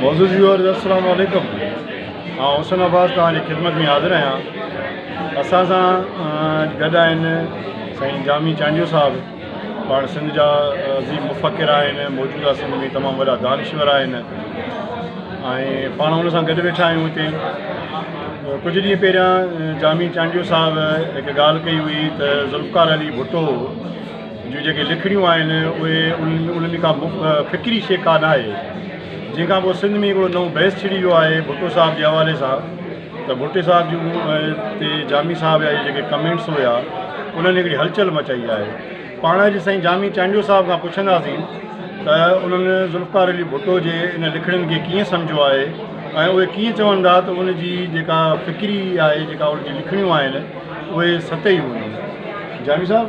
معزز ويورز السلام عليڪم آئون حسن عباس توهان جي خدمت ۾ حاضر آهيان اسان سان گڏ آهن سائين جامي چانڊيو صاحب پاڻ سنڌ جا عظيم مفڪر آهن موجوده سنڌ ۾ تمام وڏا دانشور آهن ۽ پاڻ ان سان گڏ ويٺا آهيون هتي ڪجهه ڏينهن پهريان جامي چانڊيو صاحب هڪ ڳالهه ڪئي هئي ته ذوالفقار علي ڀٽو جون جيڪي لکڻيون آهن اهي انهن ۾ ڪا فڪري شيء ڪا نه آهي جنهن کان پوء سنڌ ۾ هڪڙو نئون بحث ڇڙي ويو آهي ڀٽو صاحب جي حوالي سان ته ڀٽي صاحب جون تي جامي صاحب جا جيڪي ڪمينٽس هيا انهن هڪڙي هلچل مچائي آهي پاڻ اڄ سائين جامي چانڊيو صاحب کان پڇنداسين ته انهن ذوالفقار علي ڀٽو جي ان لکڻين کي ڪيئن سمجهيو آهي ۽ اهي ڪيئن چون ٿا ته ان جي جيڪا فڪري آهي جيڪا ان جي لکڻيون آهن اهي ستهي هيون جامي صاحب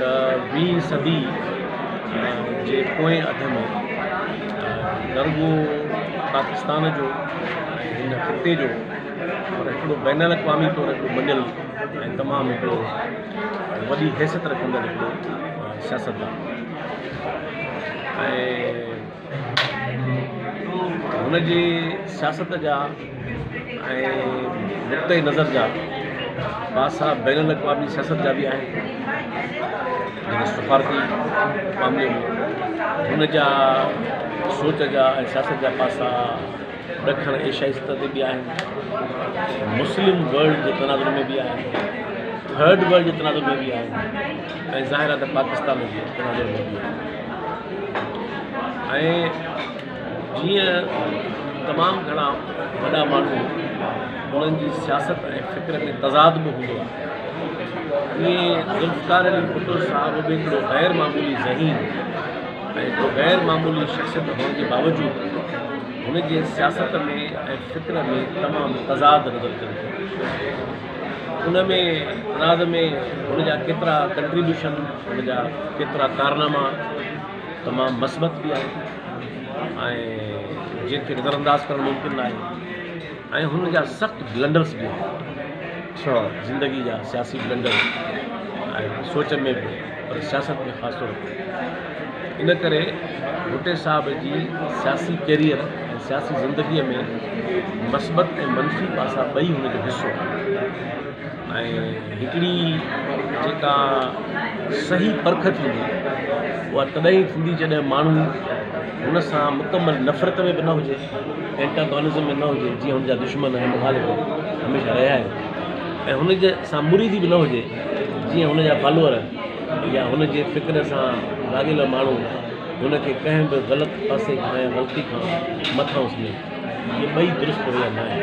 ته ويهين صدي جي پوئين اڌ ۾ نه رڳو پاڪستان جو ۽ هن خطي جو پر هڪڙو بين الاقوامي طور هڪڙو مڃيل ۽ تمام هڪڙو وڏي حيثيت رکندڙ هڪڙو سياستدان ۽ هن جي سياست جا ۽ نقطئه نظر جا پاسا بين الاقوامي سياست جا به آهن جيڪي سفارتي معاملي ۾ هن جا سوچ جا ۽ سياست جا پاسا ڏکڻ ايشيائي سطح تي به آهن مسلم ورلڊ جي تناظر ۾ به آهن ٿرڊ ورلڊ جي تناظر ۾ به آهن ۽ ظاهر آهي ته پاڪستان جي بنيادي مودي آهي ۽ جيئن تمام گهڻا وڏا ماڻهو انهن جي سياست ۽ فڪر ۾ تضاد به هوندو آهي ائين ذوالفقار علي ڀٽو صاحب به هڪڙو غير معمولي ذهين ۽ هڪڙو غير معمولي شخصيت هئڻ جي باوجود هن جي سياست ۾ ۽ فڪر ۾ تمام تضاد نظر اچن ٿيون ان ۾ راز ۾ هن جا ڪيترا ڪنٽريبيوشن هن جا ڪيترا ڪارناما تمام مثبت به آهن ۽ جن کي نظر انداز ڪرڻ ممڪن ناهي ۽ هن جا سخت بلنڊرس به آهن اچھا زندگي جا سياسي بلنڊر سوچن ۾ به پر سياست ۾ خاص طور تي ان ڪري ڀٽي صاحب جي سياسي ڪيريئر ۽ سياسي زندگيء ۾ مثبت ۽ منفي پاسا ٻئي هن جو حصو آهن ۽ هڪڙي جيڪا صحيح پرک ٿيندي اها تڏهن ئي ٿيندي جڏهن ماڻهو هن سان مڪمل نفرت ۾ به نه هجي اينٽاگونزم ۾ نه هجي جيئن هن جا دشمن ۽ مخالف هميشه رهيا آهن ۽ هن جي سان مريدي به نه هجي جيئن هن جا فالوور يا هن جي فڪر سان لاڳيل ماڻهو هن کي ڪنهن به غلط پاسي کان يا غلطي کان مٿان اسني ٿو. اهي ٻئي درست رويا ناهن.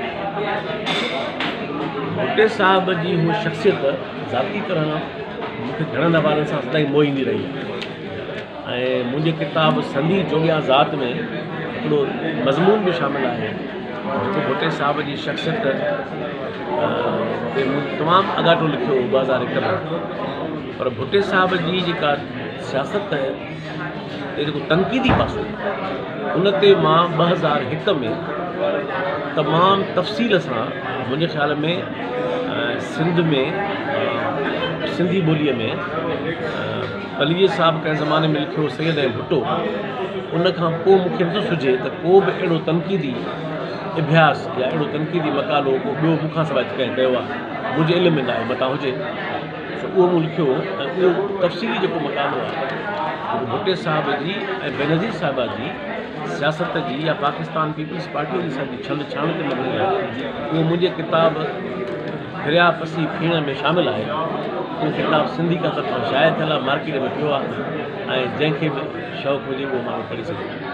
ڀٽي صاحب جي هوء شخصيت ذاتي طرح مون کي گهڻن حوالن سان سدائين موهيندي رهي آهي. ۽ منهنجي ڪتاب سنڌي جوڳيان ذات ۾ هڪڙو مضمون به شامل آهي جيڪو ڀٽي صاحب جي شخصيت تي مون تمام اڳاٽو لکيو هو ٻه هزار هڪ ۾ پر ڀٽي صاحب جي جيڪا سياست تي جيڪو تنقيدي پاسو ان تي مان ٻه هزار هڪ ۾ تمام تفصيل سان منهنجي خيال ۾ سنڌ ۾ سنڌي ٻوليء ۾ عليء صاحب ڪنهن زماني ۾ لکيو سيد ۽ ڀٽو ان کان پوء مون کي نٿو سجهي ته ڪو به اهڙو تنقيدي اڀياس يا اهڙو تنقيدي مقالو ڪو ٻيو مون کان سواء ڪنهن ڪيو آهي منهنجي علم ۾ ناهي متان هجي سو اهو مون لکيو ۽ اهو تفصيلي جيڪو مقالو آهي جيڪو ڀٽي صاحب جي ۽ بينظير صاحبه جي سياست جي يا پاڪستان پيپلز پارٽيء جي سر جي ڇنڊ ڇاڻ تي مبني آهي اهو منهنجي ڪتاب درياء پسي پيڻ ۾ شامل آهي. اهو ڪتاب سنڌي ڪا طرفان شايع ٿيل آهي، مارڪيٽ ۾ پيو آهي ۽ جنهن کي به شوق هجي اهو ماڻهو پڙهي سگهي ٿو.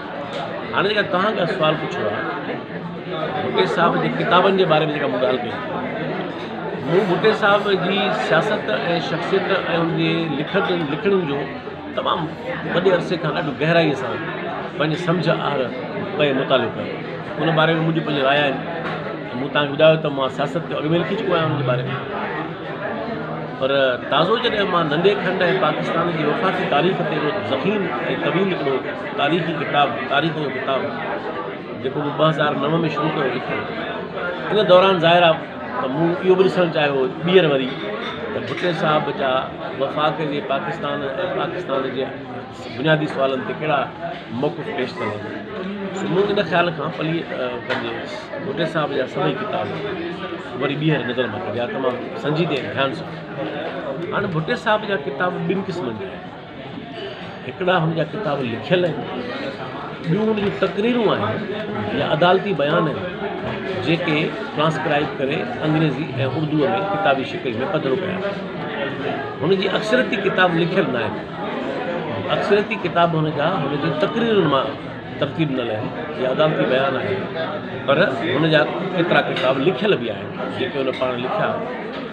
هاڻي جيڪا توهان ڪا سوال پڇيو آهي ڀٽي صاحب جي ڪتابن جي باري ۾ جيڪا مون ڳالهه ڪئي مون ڀٽي صاحب جي سياست ۽ شخصيت ۽ ان جي لکت لکڻين جو تمام وڏي عرصي کان ڏاڍو گهرائيء سان پنهنجي سمجهه آهر ڪيو مطالعو ڪيو ان باري ۾ منهنجي پنهنجي راء آهن ته مون تهان کي ٻڌايو ته مان سياست کي اڳ ۾ لکي چڪو آهيان ان جي باري ۾ پر تازو جڏهن مان ننڍي کنڊ ۽ پاڪستان جي وفاقي تاريخ تي اهڙو ضخيم ۽ طويل هڪڙو تاريخي ڪتاب تاريخ جو ڪتاب جيڪو مون ٻه هزار نو ۾ شروع ڪيو لکڻ ان دوران ظاهر آهي ته مون اهو به ڏسڻ چاهيو هو ٻيهر وري ته ڀٽي صاحب جا وفاق جي پاڪستان ۽ پاڪستان جي بنيادي سوالن تي ڪهڙا موقف پيش ٿيل آهن سو مون ان خيال کان پلي پنهنجي ڀٽي صاحب جا سڀئي ڪتاب وري ٻيهر نظر مان ڪڍيا تمام سنجيدي ۽ ڌيان سان هاڻي ڀٽي صاحب جا ڪتاب ٻن قسمن جا آهن هڪڙا هن جا ڪتاب لکيل آهن، ٻيون هن جون تقريرون آهن يا عدالتي بيان آهن، جيڪي ٽرانسڪرائيب ڪري انگريزي ۽ اردوء ۾ ڪتابي شڪل ۾ پڌرو ڪيا آهن. هن جي اڪثريتي ڪتاب لکيل نه آهن. اڪثريتي ڪتاب هن جا هن جي تقريرن مان ترتيب ڏنل آهن يا عدالتي بيان آهن، پر هن جا ڪيترا ڪتاب لکيل به آهن، جيڪي هن پاڻ لکيا آهن.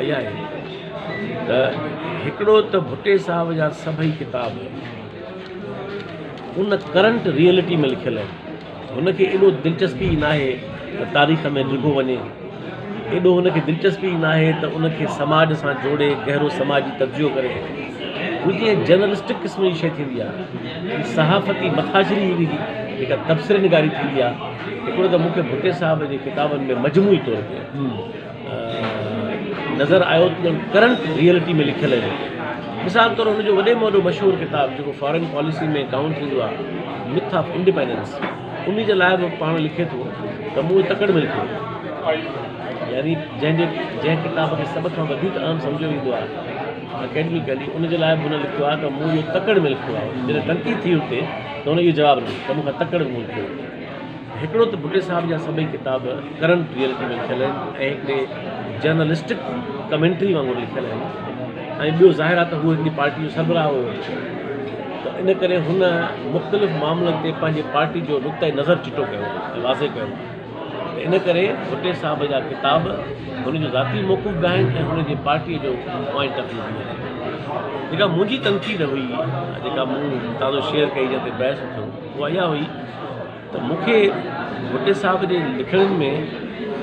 آئي آهي ته هڪڙو ته ڀٽي صاحب جا سڀئي ڪتاب ان ڪرنٽ ريئلٽي ۾ لکيل آهن هن کي ايڏو دلچسپي ئي ناهي ته تاريخ ۾ ڊگهو وڃي ايڏو هن کي دلچسپي ئي ناهي ته ان کي سماج سان جوڙي گهرو سماجي تجزيو ڪري هو جيئن جرنلسٽڪ قسم جي شيء ٿيندي آهي صحافتي مٿاڇري هن جي جيڪا تبصري نگاري ٿيندي آهي هڪڙو ته مون کي ڀٽي صاحب جي ڪتابن ۾ مجموعي طور تي نظر آيو ته ڄڻ ڪرنٽ ريئلٽي ۾ لکيل هجي. مثال طور هن جو وڏي ۾ وڏو مشهور ڪتاب جيڪو فارين پاليسي ۾ ڪائونٽ ٿيندو آهي Myth of Independence انهي جي لاء به پاڻ لکي ٿو ته مون تڪڙ ۾ لکيو يعني جنهن جي جنهن ڪتاب کي سڀ کان وڌيڪ اهم سمجهيو ويندو آهي اڪيڊميڪلي ان جي لاء به هن لکيو آهي ته مون اهو تڪڙ ۾ لکيو آهي جڏهن تنقيد ٿي هتي ته هن اهو جواب ڏنو ته مون کان تڪڙ ۾ مون لکيو هڪڙو ته بگٽي صاحب جا سڀئي ڪتاب ڪرنٽ ريئلٽي ۾ لکيل آهن ۽ هڪڙي جرنلسٽڪ ڪمينٽري وانگر لکيل آهن ۽ ٻيو ظاهر آهي ته هو هڪڙي پارٽي جو سربراهه هو ته ان ڪري هن مختلف معاملن تي پنهنجي پارٽي جو نقطه نظر چٽو ڪيو ۽ واضح ڪيو ته ان ڪري بگٽي صاحب جا ڪتاب هن جو ذاتي موقف به آهن ۽ هن جي پارٽي جو پوائنٽ آف ويو به آهن جيڪا منهنجي تنقيد هئي جيڪا مون تازو شيئر ڪئي جنهن تي بحث ٿيو هو اها هئي ته مون کي ڀٽي صاحب جي لکڻين ۾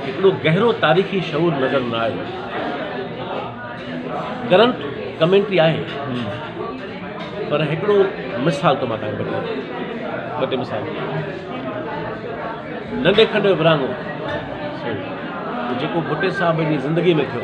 هڪڙو گهرو تاريخي شعور نظر نه آيو. گرنٽ ڪمينٽري آهي پر هڪڙو مثال ٿو مان تهان کي ٻڌايان ٻه ٽي مثال ننڍي کنڊ جو ورهاڱو جيڪو ڀٽي صاحب جي زندگي ۾ ٿيو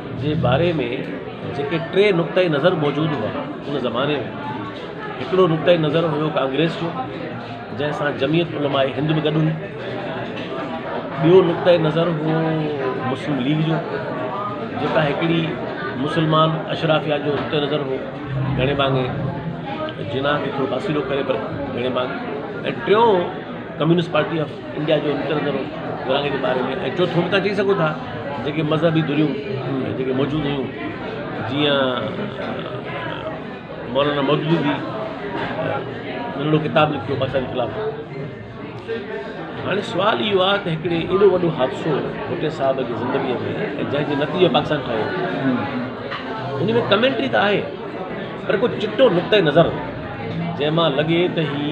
جي باري ۾ جيڪي ٽي نقطه نظر موجود هئا ان زماني ۾ هڪڙو نقطه نظر هيو ڪانگريس جو جنهن سان جميعت علماء هند به گڏ هئي ٻيو نقطه نظر هو مسلم ليگ جو جيڪا هڪڙي مسلمان اشرافيا جو نقطه نظر هو گهڻي مانگي جناح کي ٿورو پاسيرو ڪري پر گهڻي مانگي ۽ ٽيون ڪميونسٽ پارٽي آف انڊيا جو نڪتل ذرو غلاميء جي باري ۾ ۽ چوٿون به تان چئي سگهو ٿا جيڪي مذهبي ڌريون جيڪي موجود هيون جيئن مولانا مودودي جي ننڍڙو ڪتاب لکيو بادشاهه جي خلاف هاڻي سوال اهو آهي ته هڪڙي ايڏو وڏو حادثو ڀٽي صاحب جي زندگيء ۾ ۽ جنهن جي نتيجي پاڪستان ٺهيو ان ۾ ڪمينٽري ته آهي پر ڪو چٽو نقطه نظر جنهن مان لڳي ته هي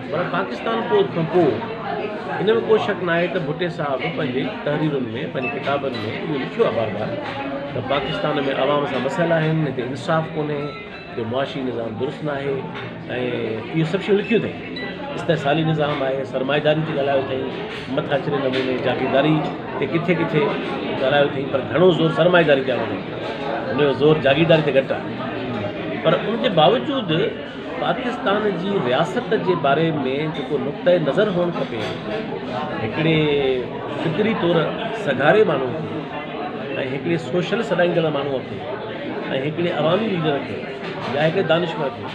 پر پاڪستان فوج کان پوء ان ۾ ڪو شڪ ناهي ته ڀٽي صاحب پنهنجي تحريرن ۾ پنهنجي ڪتابن ۾ اهو لکيو آهي بار بار ته پاڪستان ۾ عوام سان مسئلا آهن هتي انصاف ڪونهي جو معاشي نظام درست ناهي ۽ اهي سڀ شيون لکيون اٿئي استحصالي نظام آهي سرمائيداري تي ڳالهايو اٿئي مٿاڇري نموني جاگيرداري تي ڪٿي ڪٿي ڳالهايو اٿئي پر گهڻو زور سرمائيداري تي آڻو اٿئي ان جو زور جاگيرداري تي گهٽ آهي پر ان جي باوجود پاڪستان جي رياست جي باري ۾ جيڪو نقطه نظر هئڻ کپي هڪڙي فڪري طور سگهاري ماڻهو کي ۽ هڪڙي سوشل سڏائيندڙ ماڻهو کي ۽ هڪڙي عوامي ليڊر کي يا هڪڙي دانشور کي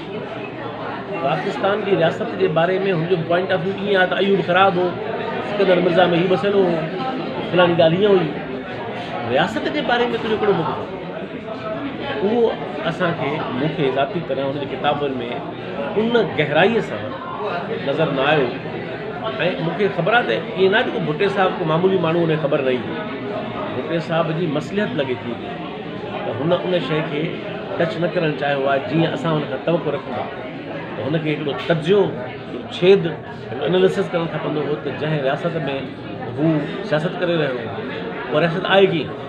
پاڪستان جي رياست جي باري ۾ هن جو پوائنٽ آف ويو ائين آهي ته ايوب خراب هو سڪندر مرزا ۾ هي مسئلو هو فلاني ڳالهه هيئن هئي رياست جي باري ۾ تنهنجو ڪهڙو مطلب اهو اسان کي، مون کي ذاتي طرح هن جي ڪتابن ۾ ان گهرائيء سان نظر نه آيو ۽ مون کي خبر آهي ته ائين نه آهي ته ڪو ڀٽي صاحب ڪو معمولي ماڻهو هن کي خبر نه ايندي. ڀٽي صاحب جي مصلحت لڳي ٿي ته هن ان شيء کي ٽچ نه ڪرڻ چاهيو آهي جيئن اسان هن کان توقع رکون ٿا ته هن کي هڪڙو تجزيو ڇيد Analysis ڪرڻ کپندو هو ته جنهن رياست ۾ هو سياست ڪري رهيو هو اها رياست آهي ڪيئن؟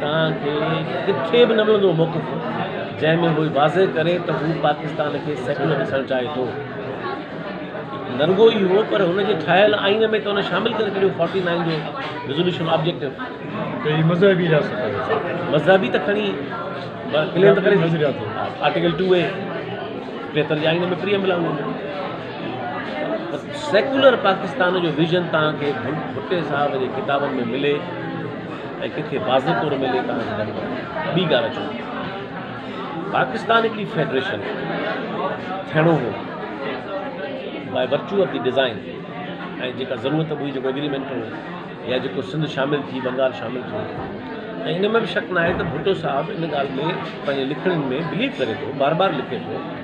توهان کي ڪٿي به نه ملندو موقف جنهن ۾ هو واضح ڪري ته هو پاڪستان کي سيڪيولر ڏسڻ چاهي ٿو. نه رڳو اهو پر هن جي ٺاهيل آئين ۾ ته هن شامل ڪري ڇڏيو فورٽي نائين جو ريزوليوشن آبجيڪٽو. ته هي مذهبي رياست آهي. مذهبي ته کڻي ڪليم ته ڪري ٿي. آرٽيڪل ٽو اي ٽيهتر جي آئين ۾ پري عمل آهي ان جو. سيڪيولر پاڪستان جو ويزن توهان کي ڀٽي صاحب جي ڪتابن ۾ ملي ۽ ڪنهن کي واضح طور ملي ته آئون ڪري ويندس. ٻي ڳالهه اچو پاڪستان هڪڙي فيڊريشن ٿيڻو هو by virtue of the design ۽ جيڪا ضرورت به هئي جيڪو ايگريمينٽ هو يا جيڪو سنڌ شامل ٿي بنگال شامل ٿيو ۽ ان ۾ به شڪ ناهي ته ڀٽو صاحب ان ڳالهه ۾ پنهنجي لکڻين ۾ بليو ڪري ٿو بار بار لکي ٿو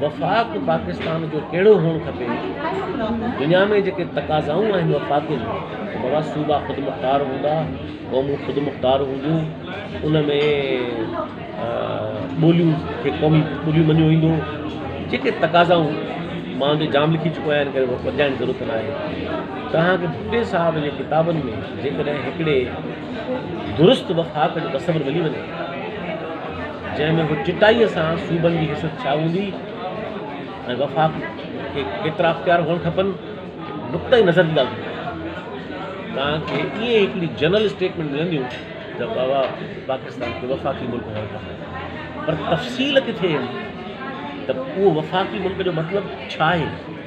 وفاق پاڪستان جو ڪهڙو هئڻ کپي؟ دنيا ۾ جيڪي تقاضائون آهن وفاق جون ته بابا صوبا خودمختار هوندا، قومون خودمختار هونديون، ان ۾ ٻوليون کي قومي ٻوليون مڃيو ويندو، جيڪي تقاضائون مان جو جام لکي چڪو آهيان ان ڪري وڌائڻ جي ضرورت ناهي. توهان کي ڀٽي صاحب جي ڪتابن ۾ جيڪڏهن هڪڙي درست وفاق جو تصور ملي وڃي ٿو، جنهن ۾ هو چٽائيء سان صوبن جي حيثيت ڇا هوندي ۽ وفاق کي ڪيترا اختيار هئڻ کپن، نقطه نظر جي ڳالهه ٿي ڪري. توهان کي ائين هڪڙي جنرل اسٽيٽمينٽ ملنديون ته بابا پاڪستان کي وفاقي ملڪ هئڻ کپي، پر تفصيل ڪٿي ايندي ته اهو وفاقي ملڪ جو مطلب ڇا آهي؟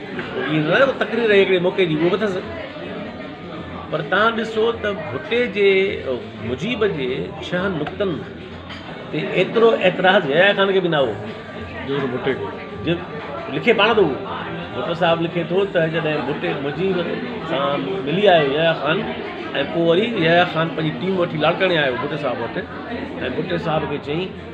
ائين ته نه آهي جو تقرير رهي هڪڙي موقعي جي اهو به اٿس پر تهان ڏسو ته ڀٽي جي مجيب جي ڇهن نقطن تي ايترو اعتراض يحيٰ خان کي به نه هو جيترو ڀٽي کي جي لکي پاڻ ٿو ڀٽو صاحب لکي ٿو ته جڏهن ڀٽي مجيب سان ملي آيو يحيٰ خان ۽ پوء وري يحيٰ خان پنهنجي ٽيم وٺي لاڙڪاڻي آيو ڀٽي صاحب وٽ ۽ ڀٽي صاحب کي چيائين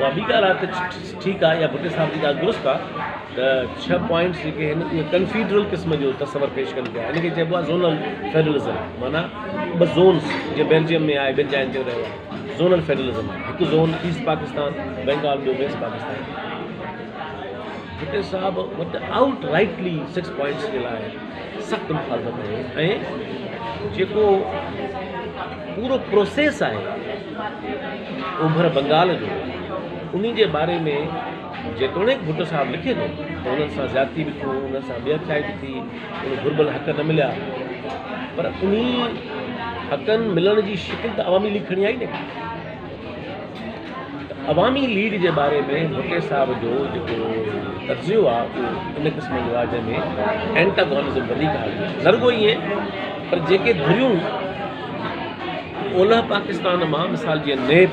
اها ٻي ڳالهه آهي ته ٺيڪ آهي يا ڀٽي صاحب جي ڳالهه درست آهي ته ڇهه پوائنٽس جيڪي آهن اهي ڪنفيڊرل قسم جو تصور پيش ڪن پيا ان کي چئبو آهي زونل فيڊرلزم معنيٰ ٻه زونس جيئن بيلجيم ۾ آهي ٻين جاين تي رهيو آهي زونل فيڊرلزم هڪ زون ايسٽ پاڪستان بنگال ٻيو ويسٽ پاڪستان ڀٽي صاحب وٽ آؤٽ رائٽلي سڪس پوائنٽس جي لاء سخت مخالفت آهي ۽ جيڪو پورو پروسيس آهي اوڀر بنگال جو انهي جي باري ۾ جيتوڻيڪ ڀٽو صاحب لکي ٿو ته انهن سان زيادتي به ٿيون انهن سان ٻيهٿيائي به ٿي انهن گهربل حق نه مليا پر انهي حقن ملڻ جي شڪل ته عوامي ليگ کڻي آئي نه عوامي ليگ جي باري ۾ ڀٽي صاحب جو جيڪو تجزيو آهي اهو ان قسم جو آهي جنهن ۾ اينٽاگونزم وڌيڪ آهي ضرور ائين پر جيڪي ڌريون اولهه پاڪستان مان مثال جيئن ن پ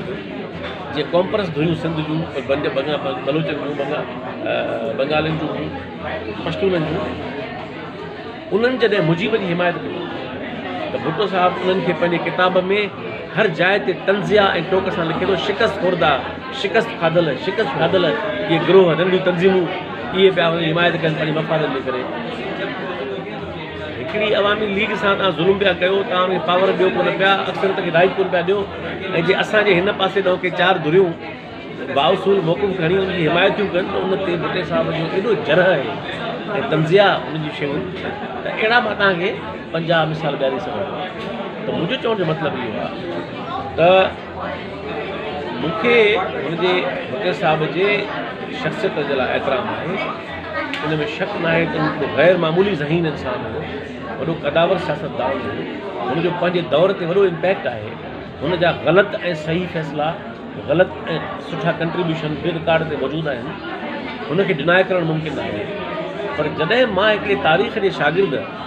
جي ڪانپرس ڌريون سنڌ جون بنجه بنگا بلوچن جون بنگا بنگالين جون هيون پشتونن جون انهن جڏهن مجيب جي حمايت ڪئي ته ڀٽو صاحب انهن کي پنهنجي ڪتاب ۾ هر جاء تي تنزيا ۽ ٽوڪ سان لکي ٿو شڪست خوردا شڪست کاڌل شڪست کاڌل اهي گروه ننڍيون تنظيمون اهي پيا حمايت ڪن پنهنجي مفادن جي ڪري هڪڙي عوامي ليگ سان توهان ظلم پيا ڪيو، توهان کي پاور ڏيو ڪونه پيا، اڪثريت کي رائٽ ڪونه پيا ڏيو ۽ جي اسان جي هن پاسي ڏانهن ڪي چار ڌريون بااصول محڪم کڻي ان جي حمايت ٿيون ڪن ته ان تي ڀٽي صاحب جو ايڏو جرح آهي ۽ طنزيه ان جي شيون ته اهڙا مان توهان کي پنجاهه مثال ڏياري سگهندو آهيان ته منهنجو چوڻ جو مطلب اهو آهي ته مون کي هن جي فقير صاحب جي شخصيت جي لاء احترام آهي ان ۾ شڪ ناهي ته هو هڪ غير معمولي ذهين انسان هو وڏو قداور سياستدان هو هن جو پنهنجي دور تي وڏو امپيڪٽ آهي هن جا غلط ۽ صحيح فيصلا غلط ۽ سٺا ڪنٽريبيوشن به رڪارڊ تي موجود آهن هن کي ڊناء ڪرڻ ممڪن ناهي پر جڏهن مان هڪڙي تاريخ جي شاگرد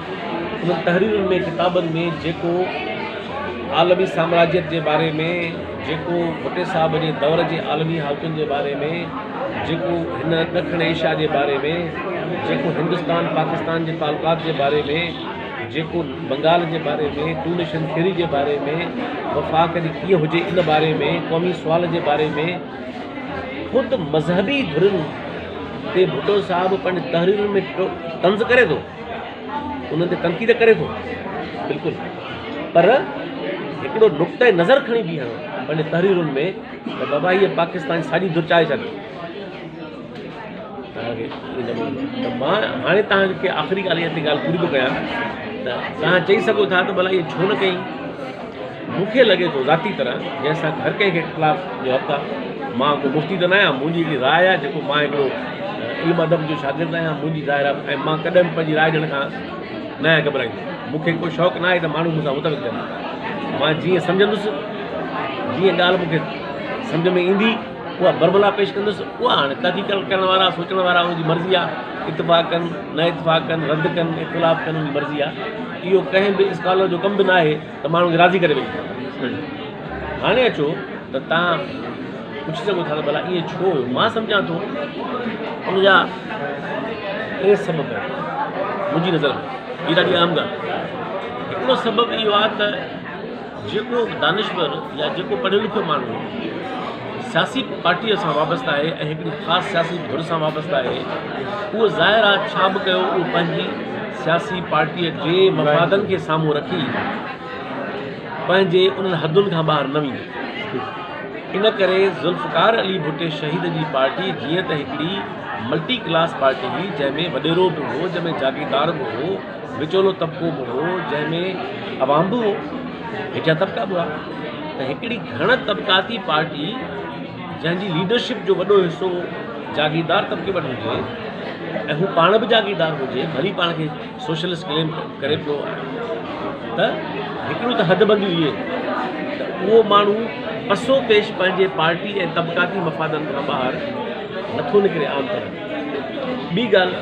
انهن تحريرن ۾ ڪتابن ۾ جيڪو عالمي سامراجيت جي باري ۾ جيڪو ڀٽي صاحب جي دور جي عالمي حالتن جي باري ۾ جيڪو هن ڏکڻ ايشيا جي باري ۾ جيڪو هندستان پاڪستان جي تعلقات جي باري ۾ جيڪو بنگال جي باري ۾ ٽونيشن ٿيري جي باري ۾ وفاق جي ڪيئن هجي ان باري ۾ قومي سوال جي باري ۾ خود مذهبي ڌرين تي ڀٽو صاحب پنهنجي تحريرن ۾ طنز ڪري ٿو انهن تي تنقيد ڪري ٿو بلڪل پر هڪڙو نقطه نظر کڻي بيهڻو پنهنجي تحريرن ۾ ته بابا هيء پاڪستان ساڄي درچائي ڇڏي ته مان هاڻي تهانکي آخري ڳالهه هتي ڳالهه پوري ٿو ڪيان ته تهان چئي سگهو ٿا ته ڀلا هيء ڇو نه ڪئي مون کي لڳي ٿو ذاتي طرح جنهن سان هر ڪنهن کي اختلاف جو حق آهي. مان ڪو مفتي ته ناهيان، منهنجي هڪڙي راء آهي جيڪو مان هڪڙو علم ادب جو شاگرد آهيان منهنجي ظاهر آهي ۽ مان ڪڏهن به پنهنجي راء ڏيڻ کان نه آهيان گهٻرائيندو. مون کي ڪو شوق ناهي ته ماڻهو مون سان متفق ٿين. مان جيئن سمجهندس جيئن ڳالهه مون کي سمجهه ۾ ايندي. اها برملا پيش ڪندس، اها هاڻي تحقيق ڪرڻ وارا، سوچڻ وارا ان جي مرضي آهي، اتفاق ڪن، نه اتفاق ڪن، رد ڪن، اختلاف ڪن ان جي مرضي آهي. اهو ڪنهن به اسڪالر جو ڪم به ناهي ته ماڻهن کي راضي ڪري ويهي. هاڻي اچو ته توهان پڇي سگهو ٿا ته ڀلا ائين ڇو هيو؟ مان سمجهان ٿو ان جا ٽي سبب آهن منهنجي نظر ۾. هي ڏاڍي اهم ڳالهه آهي. هڪڙو سبب اهو آهي ته جيڪو دانشور يا جيڪو پڙهيو لکيو ماڻهو سياسي پارٽيء سان وابسته آهي ۽ هڪڙي خاص سياسي ڌر سان وابسته آهي اهو ظاهر آ ڇا به ڪيو اهو پنهنجي سياسي پارٽيء جي مفادن کي سامهون رکي پنهنجي انهن حدن کان ٻاهر نه ويندو ان ڪري ذوالفقار علي ڀٽي شهيد جي پارٽي جيئن ته هڪڙي ملٽي ڪلاس پارٽي هئي جنهن ۾ وڏيرو به هو جنهن ۾ جاگيردار به هو وچولو طبقو به هو، جنهن ۾ عوام به هو، هيٺيان طبقا به هئا ته هڪڙي گهڻ طبقاتي پارٽي جنهن جي ليڊرشپ جو وڏو حصو جاگيردار طبقي وٽ هجي ۽ هو پاڻ به جاگيردار هجي ڀلي پاڻ کي سوشلسٽ ڪليم ڪري پيو ته هڪڙيون ته حد بنديون اهي ته اهو ماڻهو پسو پيش پنهنجي پارٽي ۽ طبقاتي مفادن کان ٻاهر نٿو نڪري عام طرح ٻي ڳالهه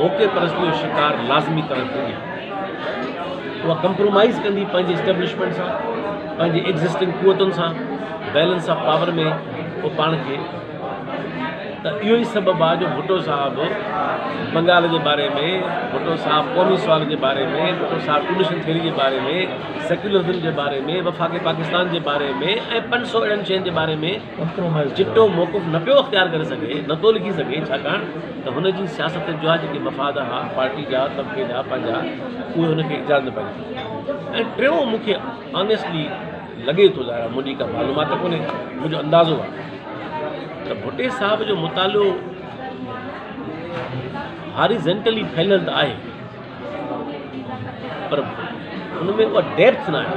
موقعي پرستي جو شڪار لازمي طرح ٿيندي آهي. اها ڪمپرومائيز ڪندي پنهنجي اسٽيبلشمينٽ سان، پنهنجي ايگزسٽنگ قوتن سان بيلنس آف پاور ۾ اهو پاڻ کي ته اهو ئي سبب آهي جو ڀٽو صاحب بنگال جي باري ۾ ڀٽو صاحب قومي سوال جي باري ۾ ڀٽو صاحب ٽريڊيشن ٿيوري جي باري ۾ سيڪيولرزم جي باري ۾ وفاق پاڪستان جي باري ۾ ۽ پنج سؤ اهڙن شين جي باري ۾ چٽو موقف نه پيو اختيار ڪري سگهي، نه ٿو لکي سگهي، ڇاڪاڻ ته هن جي سياست جا جيڪي مفاد ها، پارٽي جا، طبقي جا، پنهنجا، اهي هن کي اجازت نه پيا ڏين. ۽ ٽيون مون کي آنيسٽلي لڳي ٿو، ظاهر آهي منهنجي ڪا معلومات ته ڪونهي، منهنجو اندازو آهي ته ڀٽي صاحب جو مطالعو هاريزنٽلي ڦهليل ته آهي پر ان ۾ اها ڊيپٿ ناهي.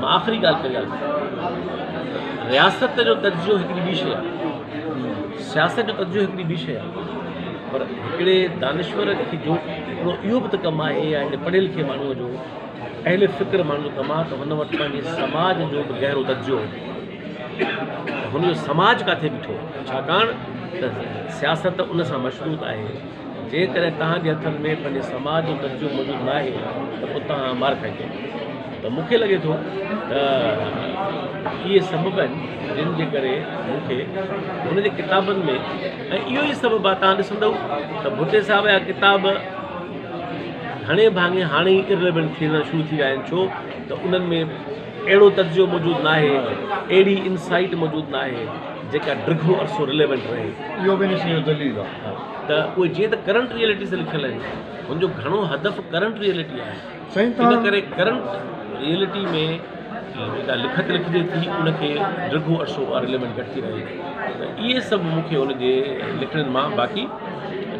مان آخري ڳالهه ڪري آيو آهيان. رياست جو تجزيو هڪڙي ٻي شيء آهي. سياست جو تجزيو هڪڙي ٻي شيء آهي. پر هڪڙي دانشور کي جو هڪڙو اهو به ته ڪم آهي يا هڪڙي پڙهي لکي ماڻهوء جو اهل فڪر ماڻهوء جو ڪم آهي ته هن وٽ پنهنجي سماج جو به گهرو تجزيو هجي ته هن جو سماج ڪاٿي بيٺو آهي ڇاڪاڻ ته سياست ان سان مشروط آهي جيڪڏهن توهان جي هٿن ۾ پنهنجي سماج جو تجزيو موجود ناهي ته پوء توهان مار کائيندو ته مون کي لڳي ٿو ته اهي سبب آهن جن جي ڪري مون کي هن جي ڪتابن ۾ ۽ اهو ئي سبب آهي توهان ڏسندو ته ڀٽي صاحب جا ڪتاب گهڻي ڀاڱي هاڻي ئي ارليونٽ ٿيڻ شروع ٿي ويا آهن ڇو ته انهن ۾ اهڙو تجزيو موجود ناهي اهڙي انسائيٽ موجود ناهي جيڪا ڊگهو عرصو رليونٽ رهي اهو به ان شيء جو دليل آهي ته اهي جيئن ته ڪرنٽ ريئلٽي سان لکيل آهن هن جو گهڻو هدف ڪرنٽ ريئلٽي آهي سائين ان تان ڪري ڪرنٽ ريئلٽي ۾ جيڪا لکت لکجي ٿي ان کي ڊگهو عرصو اها ريليونٽ گهٽ ٿي رهي ٿي ته اهي سڀ مون کي ان جي لکڻين مان باقي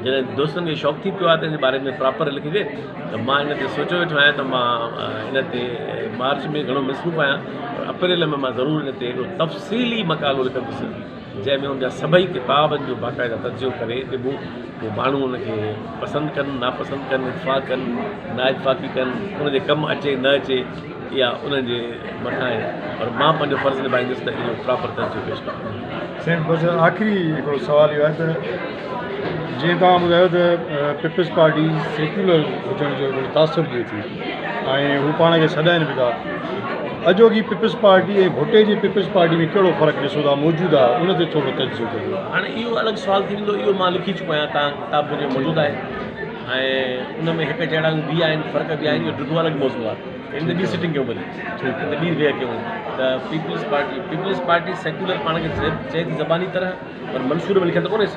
جڏهن دوستن کي شوق ٿي پيو آهي ته ان جي باري ۾ پراپر لکجي ته مان ان تي سوچيو ويٺو آهيان ته مان ان تي مارچ ۾ گهڻو مصروف آهيان پر اپريل ۾ مان ضرور ان تي هڪڙو تفصيلي مقالو لکندس جنهن ۾ ان جا سڀئي ڪتابن جو باقاعده تجزيو ڪري ڏبو جو ماڻهو ان کي پسند ڪن ناپسند ڪن اتفاق ڪن نااتفاقي ڪن ان جي ڪم اچي نه اچي يا انهن جي مٿان آهي پر مان پنهنجو فرض نڀائيندس ته اهو پراپر تجزيو پيش ڪندس. سائين بس آخري هڪڙو سوال اهو آهي ته جيئن توهان ٻڌايو ته پيپلز پارٽي سيڪيولر هجڻ جو هڪڙو تاثر ڏئي ٿي ۽ هو پاڻ کي سڏائين به ٿا. اڄوڪي پيپلز پارٽي ۽ ڀٽي جي پيپلز پارٽي ۾ ڪهڙو فرق ڏسو ٿا موجوده ان تي ٿورو تجزيو ڪريو. هاڻي اهو الڳ سوال ٿي ويندو اهو مان لکي چڪو آهيان تان ڪتاب منهنجو موجود آهي ۽ ان ۾ هڪ جهڙائيون به آهن فرق به آهن اهو ڊگهو الڳ موضوع آهي ان تي ٻي سٽنگ ڪيون ڀلي ان تي ٻي ويهه ڪيون ته Peoples Party Peoples Party secular پاڻ کي چئي ٿي زباني طرح پر منشور ۾ لکيل ته ڪونهيس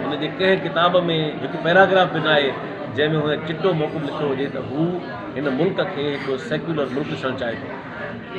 هن جي ڪنهن ڪتاب ۾ هڪ پيراگراف به ناهي، جنهن ۾ هن چٽو موڪب لکيو هجي ته هو هن ملڪ کي هڪ سيڪيولر ملڪ ڏسڻ چاهي ٿو.